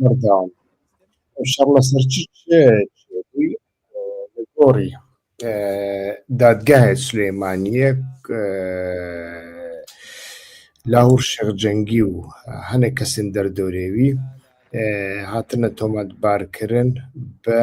بەردەوام شەڕ لەسەر چ گۆڕی دادگایە سلێمانیەک لاهور شەق جەنگی و هەنێک کەسن دەردەورێوی هاتنە تۆمەتبارکردن بە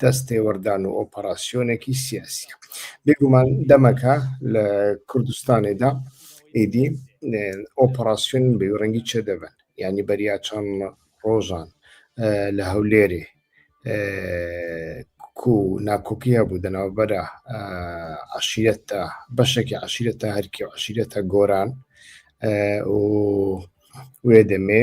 دەست تێوەردان و ئۆپەراسیۆنێکی سیاسیە بێگومان دەمەکە لە کوردستانێدا ئیدی ئۆپەراسیۆن بێ ڕەنگی چێ دەبن ینی بەریا چەند ڕۆژان لە هەولێرێ کو ناکۆکی هەبوو دەناوبەرە عشیرەتە بەشێکی عشیرەتە هەرکی و عشیرەتە گۆران و وێ دەمێ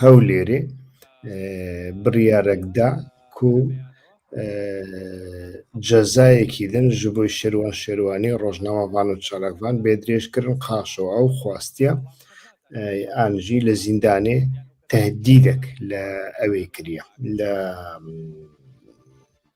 هەولێرێ بڕیارەکدا کو جەزایەکی دەن ji بۆی شێروان شێروانی ڕۆژناوەوان و چالاکوان بێ درێژکردن قاچەوە ئەو خواستە ئانژی لە زیندانێ تهدیدێک لە ئەوێ کریە لە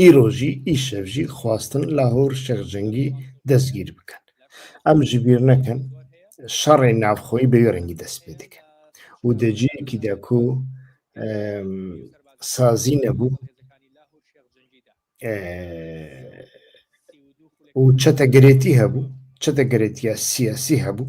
ئیرۆژی ئی شەڤژی خواستن لاهور شێخ جەنگی دەسگیر بکەن ئەم ژبیر نەکەن شەڕێ ناوخۆی بەوێ ڕەنگی دەست پێ دەکەن و دەجیەکی دەکو سازی نەبوو و چەتەگرێتی هەبوو چەتەگرێتە سیاسی هەبوو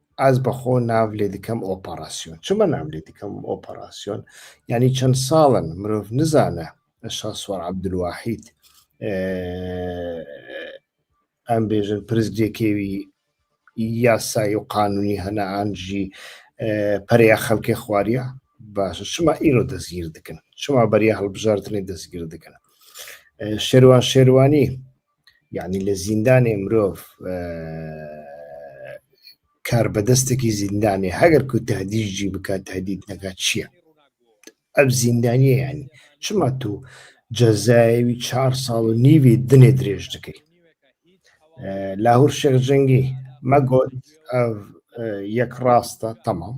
ئەز بە خۆ ناو لێ دکەم ئۆپەڕاسیۆن چمە ناو لێ دکەم ئۆپەڕاسیۆن یعنی چەند ساڵن مرۆڤ نزانە شا سوار عبدواحید ئەم بێژن پرزگێکێوی یاسایی و قانونی هەنا ئانجی پەریا خەلکێ خواریە باشە شما ئیرۆ دەستگیر دکن شما بەریا هەڵبژاردنی دەستگیر دکن شێروان شێروانی یعنی لە زیندانێ مرۆڤ کار بەدەستێکی زیندانێ هەگەر کو تهدیجی بکات تهدید نەکات چییە؟ ئەب زیندانیە ینی چما تو جەزایوی چهار ساڵ و نیوی دنێ درێژ دەکەیت لاهور شێخ جەنگی مەگۆت یەک ڕاستە تەمام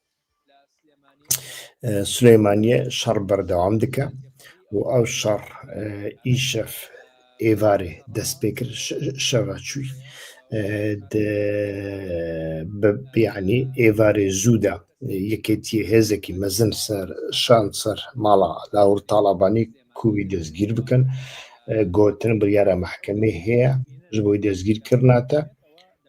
سلیمانیە شەڕ بەردەوام دکە و ئەو شەڕ ئیشەف ئێوارێ دەست پێ کرد شەوە چووی بیانی ئێوارێ زوودا یەکێتی هێزێکی مەزن سەر شان سەر ماڵا لاور تاالبانی کووی دەستگیر بکەن گۆتن بڕیارە محکەمەی هەیە ژ بۆی دەستگیر کردناتە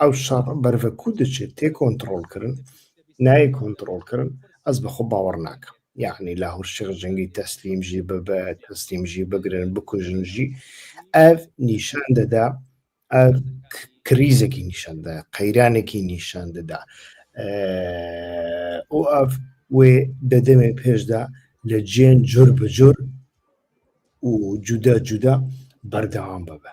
ئەو شەڕ بەرە کو دەچێت تێ کۆنتترۆل کردن نای کۆنتترۆل کردن ئەس بەخۆ باوەڕ ناکەم یعنی لە هەرشێ جەنگی تەسلیمژی ببە تەسلیمژی بگرن بکوژنژی ئەف نیشان دەدا ئەف کریزێکی نیشاندا قەیرانێکی نیشان دەدا ئەو ئەف وێ دەدەمێ پێشدا لە جێن جۆر بە جۆر و جودا جودا بەردەوام ببە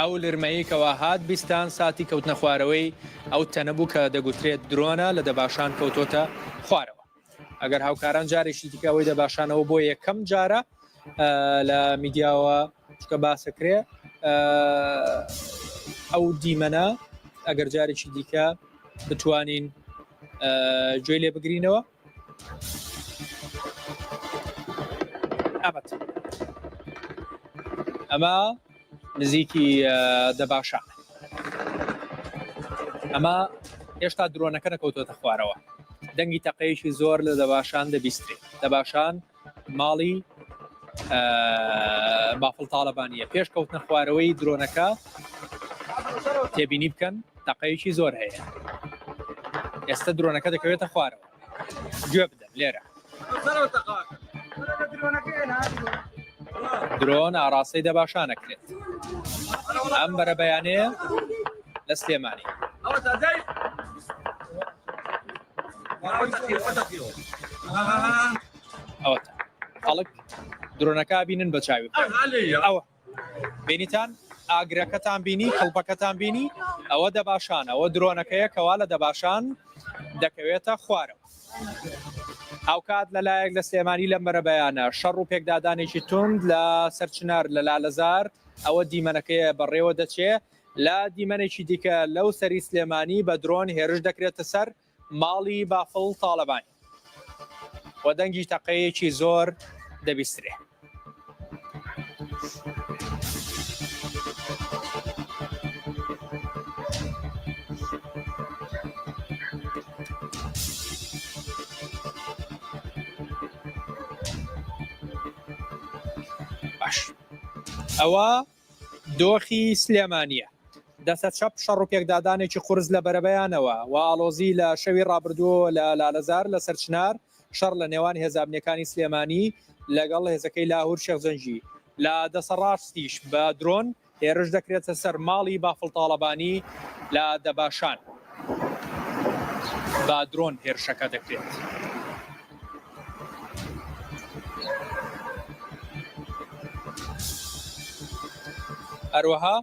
ئەو لرمەی کەوا هات بیستان ساتی کەوتنە خوارەوەی ئەو تەنە بوو کە دەگوترێت درۆنە لە دەباشان کەوتۆتە خوارەوە ئەگەر هاوکاران جارێکی دیکەەوەی دەباشانەوە بۆ یەکەم جارە لە میدیاوە چکە باسەکرێ ئەو دیمەنە ئەگەر جارێکی دیکە بتوانین گوێ لێ بگرینەوە ئەمە نزیکی دەباشە ئەمە هێشتا درۆنەکە نەکەوتۆتە خوارەوە دەنگی تەقەیەکی زۆر لە دەباشان دەبیستری دەباشان ماڵی بافڵ تاڵەبانیە پێش کەوتنە خوارەوەی درۆنەکە تێبینی بکەن تەقەیەکی زۆر هەیە ئێستا درۆنەکە دەکەوێتە خوارەوە گوێ بدەن لێرە درۆن ئاراستەی دەباشانەکرێت ئەم بەرە بەیانەیە لە سلێمانی خەڵک درۆنەکە بینن بە چاوی ئەوە بینیتان ئاگرەکەتان بینی کڵپەکەتان بینی ئەوە دەباشان ئەوە درۆنەکەیە کەوا لە دەباشان دەکەوێتە خوارەوە هاوکات لەلایەک لە سلێمانی لەم بەرەبەیانە شەڕ و پێکدادانێکی تند لە سەرچنار لە لالەزار ئەوە دیمەنەکەی بەڕێوە دەچێت لە دیمەنێکی دیکە لەو سەری سلێمانی بە درۆن هێرش دەکرێتە سەر ماڵی بافڵ تاڵەبانی و دەنگی تەقەیەکی زۆر دەبیسترێ. ئەوە دۆخی سلێمانیە دەسە چەپ شەڕو پێکدادانێکی قورس لە بەرەبەیانەوە و ئاڵۆزی لە شەوی ڕابردووەوە لە لالەزار لە سەر چنار شەڕ لە نێوان هێزە ئەمنیەکانی سلێمانی لەگەڵ هێزەکەی لاهور شێخ جەنگی لە دەسە ڕاستیش بە درۆن هێرش دەکرێتە سەر ماڵی بافڵ تاڵەبانی لە دەباشان بە درۆن هێرشەکە دەکرێت. هەروەها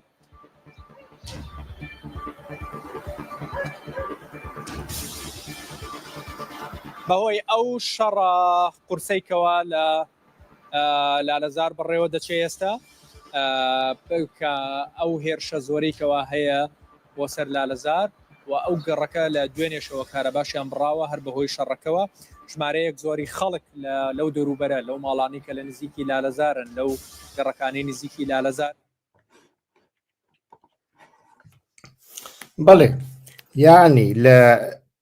بەهۆی ئەو شەڕە قورسەیکەوە لە لالەزار بەڕێوە دەچێ ئێستا کە ئەو هێرشە زۆرەی کەوا هەیە بۆ سەر لالەزار و ئەو گەڕەکە لە دوێنێشەوە کارەباشیان بڕاوە هەر بەهۆی شەڕەکەەوە ژمارەیەک زۆری خەڵک لەو دەوروبەرە لەو ماڵانی کە لە نزیکی لالەزارن لەو گەڕەکانی نزیکی لالەزار بەڵێ یانی لە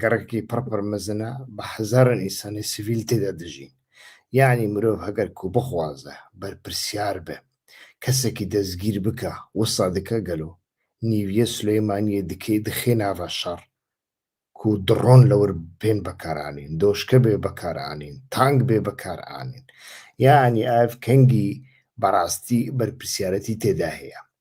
گەڕێکی پڕپڕ مەزنە بە هەزارن ئینسانی سڤیل تێدا دەژین یعنی مرۆڤ هەگەر کو بخوازە بەرپرسیار بێ کەسێکی دەستگیر بکە وسا دکە گەلۆ نیویە سلەیمانیە دکەی دخێ ناڤە شەڕ کو دڕۆن لەور پێن بەکارانین دۆشکە بێ بەکارانین تانگ بێ بەکارانین یعنی ئاف کەنگی بەڕاستی بەرپرسیارەتی تێدا هەیە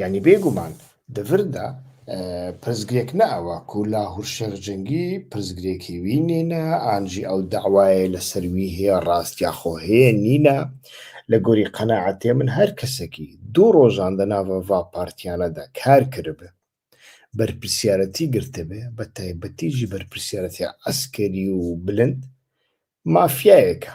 یعنی بێگومان دەڤردا پرسگرێک نەئەوە کو لاهور شێخ جەنگی پرسگرێکی وی نینە ئانجی ئەو داوایە لە سەروی هەیە ڕاست یاخۆ هەیە نینە لە گۆری قەنەعاتێ من هەر کەسێکی دوو ڕۆژان دە ناڤڤا پارتیانەدا کار کردبێ بەرپرسیارەتی گرتبێ بە تایبەتیژی بەرپرسیارەتی عسکەری و بلند مافیایەکە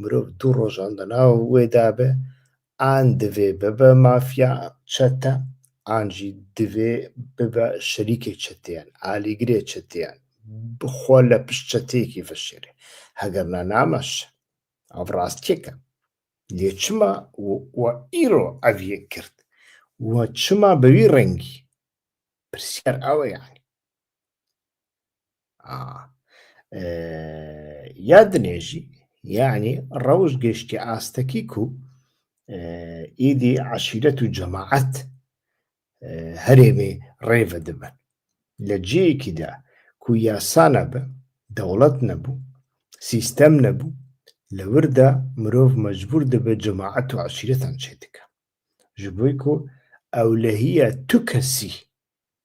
مرۆڤ دوو ڕۆژان لە ناو وێ دابێ ئان دڤێ ببە مافیا چەتە ئان ژی دڤێ ببە شەریکێ چەتێیان ئالیگرێ چەتێیان بخوا لە پشت چەتێکی فەشێرێ هەگەر نا نامەش ئەڤ ڕاستکێکە لێ چما و ئیرۆ ئەڤیە کرد و چما بەوی ڕەنگی پرسیار ئەوە یانی یا دنێژی یعنی ڕەوش گەشتی ئاستەکیک و ئیدی عشیرەت و جەماعەت هەرێمێ ڕێڤە دەبن لە جێیەکیدا کو یاسانە بە دەوڵەت نەبوو سیستەم نەبوو لە وردا مرۆڤ مەجبور دەبێت جەماعەت و عشیرەتان چێ دکە ji بۆی کو ئەولەهە تو کەسی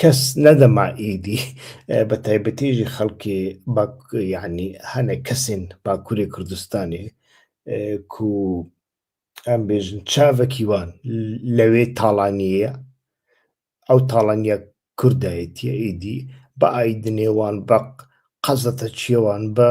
کەس نەدەما ئیدی بە تایبەتیژی خەڵکی یعنی هەنێک کەسین باکووری کوردستانی کو ئەم بێژن چاڤکی وان لەوێ تاڵانیە ئەو تاڵانیا کوردایەتیە ئیدی بە ئایدنێوان بە قەزەتە چێوان بە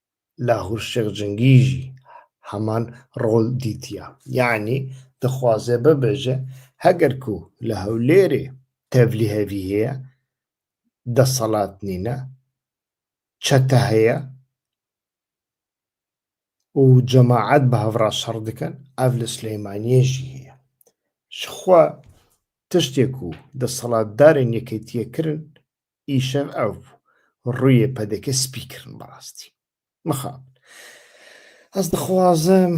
لاهور شێخ جنگیژی هەمان ڕۆڵ دیتیە یەعنی دەخوازێ ببێژێ هەگەر کو لە هەولێرێ تەڤلی هەڤی هەیە دەسەڵات نینە چەتە هەیە و جەماعەت بە هەڤرا شەڕ دکەن ئەڤ لە سلەیمانیەژی هەیە شخوا تشتێک و دەسەڵاتدارن یەکێتیە کرن ئیشەن ئەڤ ڕویێ پەدەکە سپی کڕن بەڕاستی مخاب ئەز دخوازم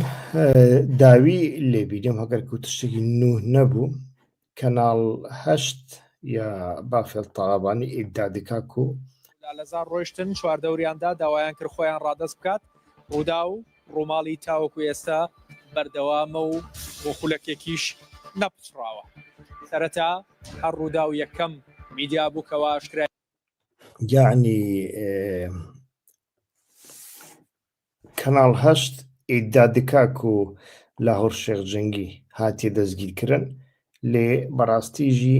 داوی لێ بیدم هەگەر کو تشتێکی نوه نەبوو کەناڵ هەشت یا بافێڵ تاڵابانی ئیددا دکا کو لالەزار ڕۆیشتن چواردەوریاندا داوایان کرد خۆیان ڕادەست بکات ڕووداو. ڕووماڵی تاوەکو ئێستا بەردەوامە و بۆ خولەکێکیش نەپچڕاوە. سەرەتا هەر ڕووداو یەکەم میدیا بوو کەوا ئاشکرای. یەعنی کەناڵ هەشت ئیددا دکا کو لاهوڕ شێخ جەنگی هاتیە دەسگیرکرن لێ بەڕاستیژی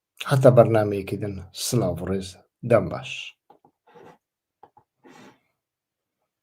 هەتا بەرنامەیەکی دن سلاڤ ڕێز دەم باش.